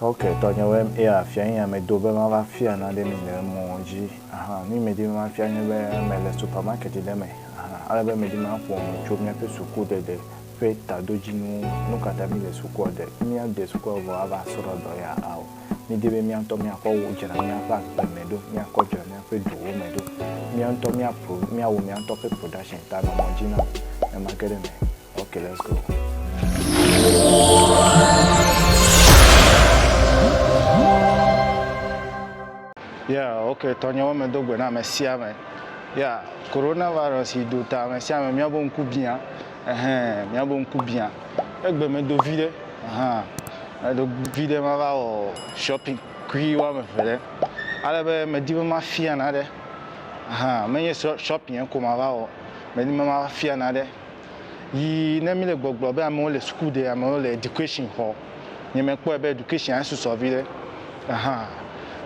Ok tɔnyewoe m ea fia ye ame do be ma va fia nane mi le emɔ dzi ahan nu yi me di be ma fia nye be me le supermarket ɖe me ahan ale be me di ma ƒo nu tso miaƒe suku ɖeɖe ƒe tadodzinu nu ka ta mi le sukua ɖe mia de sukua vɔ ava srɔ dɔ ya ao mi di be mia ŋutɔ mia kɔ wo dzra miaƒe agbe me ɖo mia kɔ dzra miaƒe duwo me ɖo mia ŋutɔ mia pro mia wo mia ŋutɔ ƒe production ta nɔ mɔ dzi nam ne ma ge ɖe me. Okay, let's go. Yeah, okay, tɔnyewo me do gbe na ame sia ame. Yeah, coronavirus yi do ta ame sia ame míabe ŋku biã. Ɛhɛn, míabe ŋku biã. Egbe me do vi ɖe. Ahan. Edo vi ɖe ma va wɔ shopping kui woame eve ɖe. Ale be medi be mafia naɖe. Ahan, menye shopping ko ma va wɔ. Medi be mafia naɖe. Yi ne mi le gbɔgblɔ be amewo le suku ɖe, amewo le education xɔ, nye me kpɔe be education a susɔ vi ɖe. Ahan.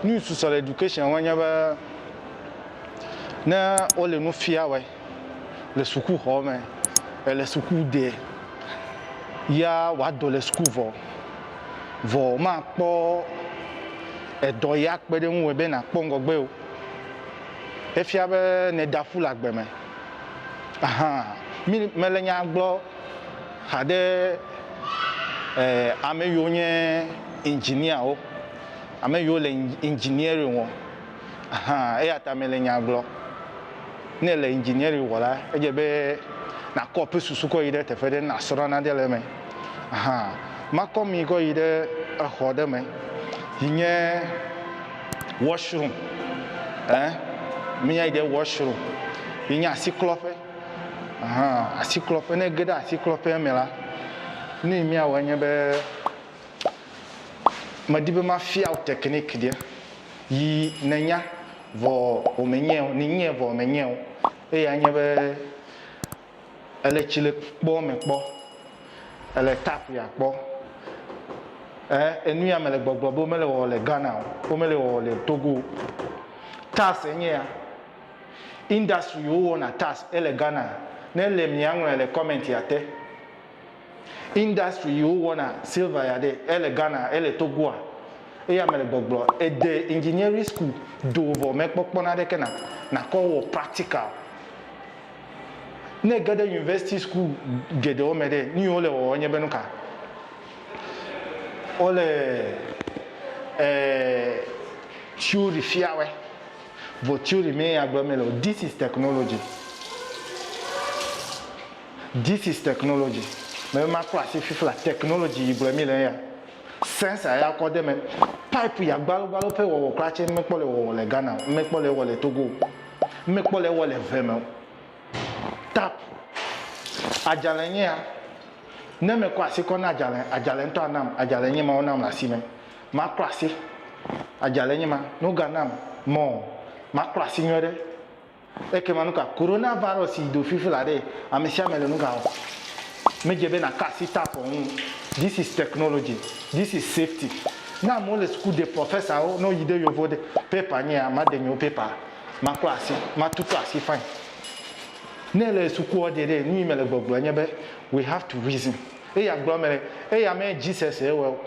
Nu yi susɔ le education me nye be ne wo le nu fia wɛ le suku xɔ me, ele suku ɖe ya wa dɔ le suku vɔ, vɔ ma kpɔ edɔ ya kpe ɖe ŋu wɔ be na kpɔ ŋgɔgbe o. Efia be ne ɖa ƒu le agbe me. Ahan, mi me le nya gblɔ xa ɖe ame yiwo nye engineer wo, ame yiwo le engineering wɔ. Ahan, eya ta me le nya gblɔ. Ne ele engineering wɔ la, edze be na kɔ eƒe susu kɔ yi ɖe teƒe ɖe, na srɔ nane le eme. Ahan, ma kɔ mi kɔ yi ɖe exɔ ɖe me yi nye. washroom ɛɛ, mi nya yi ɖe washroom, yi nye asiklɔƒe, ahan, asiklɔƒe, ne ege ɖe asiklɔƒea me la, nu yi mia wɔ enye be, me di be ma fia wò technique ɖe yi ne nya vɔ wò me nyɛ o, ni nyɛ vɔ wò me nyɛ o. Eya nye be. Èle tsilékpoɔ me kpɔ, èle tap ya kpɔ ɛɛ enu ya mele gbɔgblɔ be womele wɔwɔ le Ghana o, womele wɔwɔ le Togo o. Tas enye ya. Industry yi wowɔna tas ele Ghana, ne ele mia ŋlɔɛ le comment ya te. Industry yi wo wɔna silver ya ɖe ele Ghana ele Togoa eya mele gbɔgblɔ ede engineering school do vɔ me kpɔ kpɔ naɖe ke na nakɔ wɔ practical ne geɖe university school geɖewo me ɖe nu yi wole wɔwɔ nye be nuka wole eh, theory fiawɛ vɔ theory me ya gblɔ me le this is technology This is technology. Mebe maklɔ asi fifla technology yi gblɔe mi le eya. Sensor ya kɔ de me. Pipe ya gbalo gbalo ƒe wɔwɔ kura tse ŋmekpɔ le wɔwɔ le Ghana o. Ŋmekpɔ le ewɔ le Togo o. Ŋmekpɔ le ewɔ le ŋe me o. Tap. Adzale nye ya. Ne me kɔ asi kɔ na adzale, adzale ŋtɔ anam. Adzale nye ma wonam le asi me. Maklɔ asi. Adzale nye ma. Ne woga nam mɔ maklɔ asi nyuiɖe. Ekema nuka Coronavirus yi do fifi la ɖe amesiame le nuga wɔm? Medze be naka asi tapɔ ŋu. This is technology, this is safety. Ne amewo le suku de professor-wo, ne woyi de yovo de paper nyea, made nyewo paper, maklɔ asi, matutu asi fine. Ne ele sukua de ɖe, nuyi mele gbɔgblɔ nye be we have to reason. Eya gblɔ mele, eya me Jesus ye wɔe o.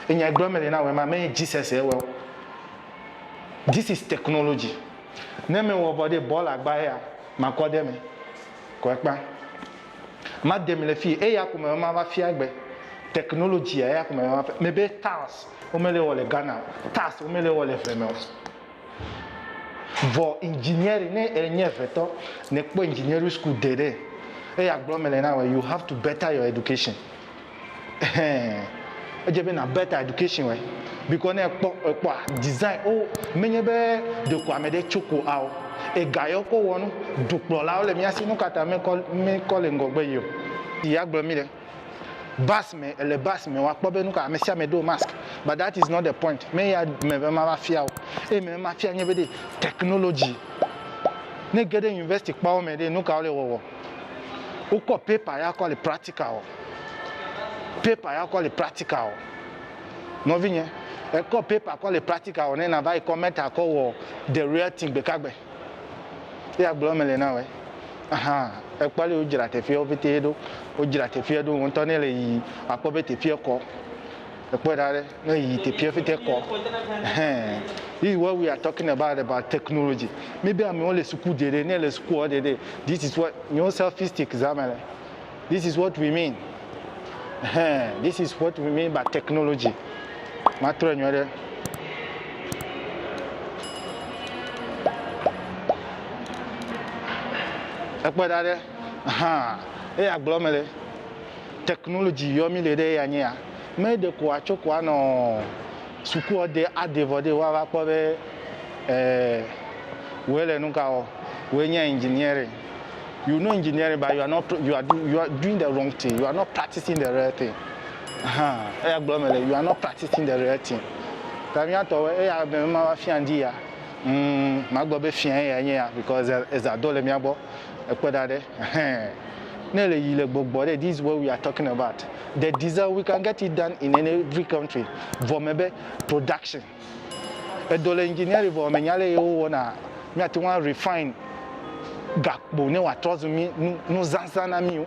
Enya yi gblɔm mele na wòa ma menye Jesus ye wɔe o. This is technology. Ne me wɔ vɔ ɖe bɔl agba eya makɔ ɖe eme ko ekpa. Ma dem le fie eya ko me ma va fia gbe. Technology ya eya ko me ma fia. Me be tiles wo me le wɔ le Ghana o. Tiles wo me le wɔ le ʋe me o. Vɔ engineering ne enye ʋe tɔ ne kpɔ engineering school de ɖe eya gblɔm mele na wòa you have to better your education. Ɛhɛn. Edze be na better education wɔe because ne ekpɔ ekpɔa design wo menye be ɖeko ame ɖe tso ko ao. Ega yɔ ko wɔ nu. Dukplɔlawo le mía si nu ka ta mekɔ mekɔ le ŋgɔgbe yi o. Yi ya gblɔ mi ɖe. Bus me ele bus me woakpɔ be nu ka ame sia ame ɖo mask but that is not the point. Me ya me be mava fia wo. Eye me be mafia nye be ɖe technology ne ge ɖe university kpawo me ɖe nu ka wole wɔwɔ. Wokɔ paper ya kɔ le practical wɔ. Paper ya kɔ le practical wɔ. Nɔvinye, ekɔ paper kɔ le practical wɔ ne na va yi kɔ meta kɔ wɔ the real thing gbekagbe. Ye agblɔ me le na wɔ. Ahan, ekpɔ ale wodzra teƒeawo pɛtɛ ɖo. Wodzra teƒea ɖo ŋutɔ ne le yiyim akpɔ be teƒea kɔ. Ekpɔe ɖa ɖe, ne yi teƒeɛ fete kɔ ɛhɛn if what we are talking about about technology mi be amewo le suku de ɖe ne le suku ɔ de ɖe this is what nyo selfistic za me le this is what we mean ɛhɛn this is what we mean by technology ma trɔɛ nyuie ɖe. Ekpɔe ɖa ɖe, ahan eya gblɔ me le. Technology yɔ mi le ɖe ya nye ya. Me ɖe ko a tso ko a nɔ suku ɔ de a de vɔ de wa va kpɔ be eh wɛ le nuka wɔ wɛ nye engineering. You know engineering but you are not you are you are doing the wrong thing you are not practicing the real thing ahan eya gblɔ me le you are not practicing the real thing ta mi atɔ wɛ eya me ma va fia ŋdi ya humm ma gblɔ be fia eya nye ya because eza do le mia gbɔ. Ekpɔ ɖa ɖe, ɛhɛn. Ne le yi le gbɔgbɔ ɖe, this is what we are talking about. The diesel, we can get it done in any every country. Vɔ me be production. Edɔ le engineering vɔ me nya leye wo wɔna mia te ŋu a refine gakpo ne wa trɔ zu mi nu nu zazã na mi o.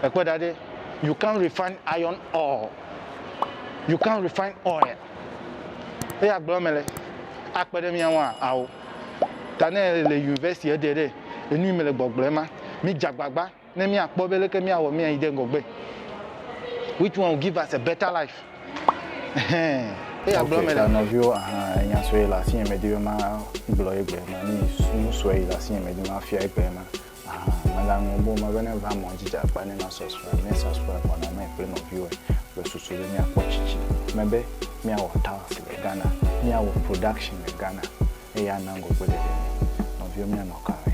Ekpɔ ɖa ɖe, you can't refine iron ore. You can't refine oil. Eya gblɔ me le, a kpe ɖe mia ŋu a? Ao. ta ne le university eɖe ɖe enu me le gbɔgblɔ ema mi dzagbagba ne mi akpɔ be leke mi awɔ mi ayi ɖe ŋgɔgbe which one will give us a better life hɛn eya gblɔ me le nɔviwo aha enya sɔe le asi me di be ma gblɔ egbe ma ni nu sɔe le asi me di ma fia egbe ma Aha, mègaŋlɔ be wome bene va mɔ dzi dze akpa ne na sɔsrɔ̃. Mía sɔsrɔ̃ kɔ na mɛ kple nɔviwo le susu be míakpɔ tsitsi me be míawɔ tiles le Ghana, míawɔ production le Ghana eye ana ŋgɔgbe ɖeɖe mí. Nɔviwo míanɔ ka me?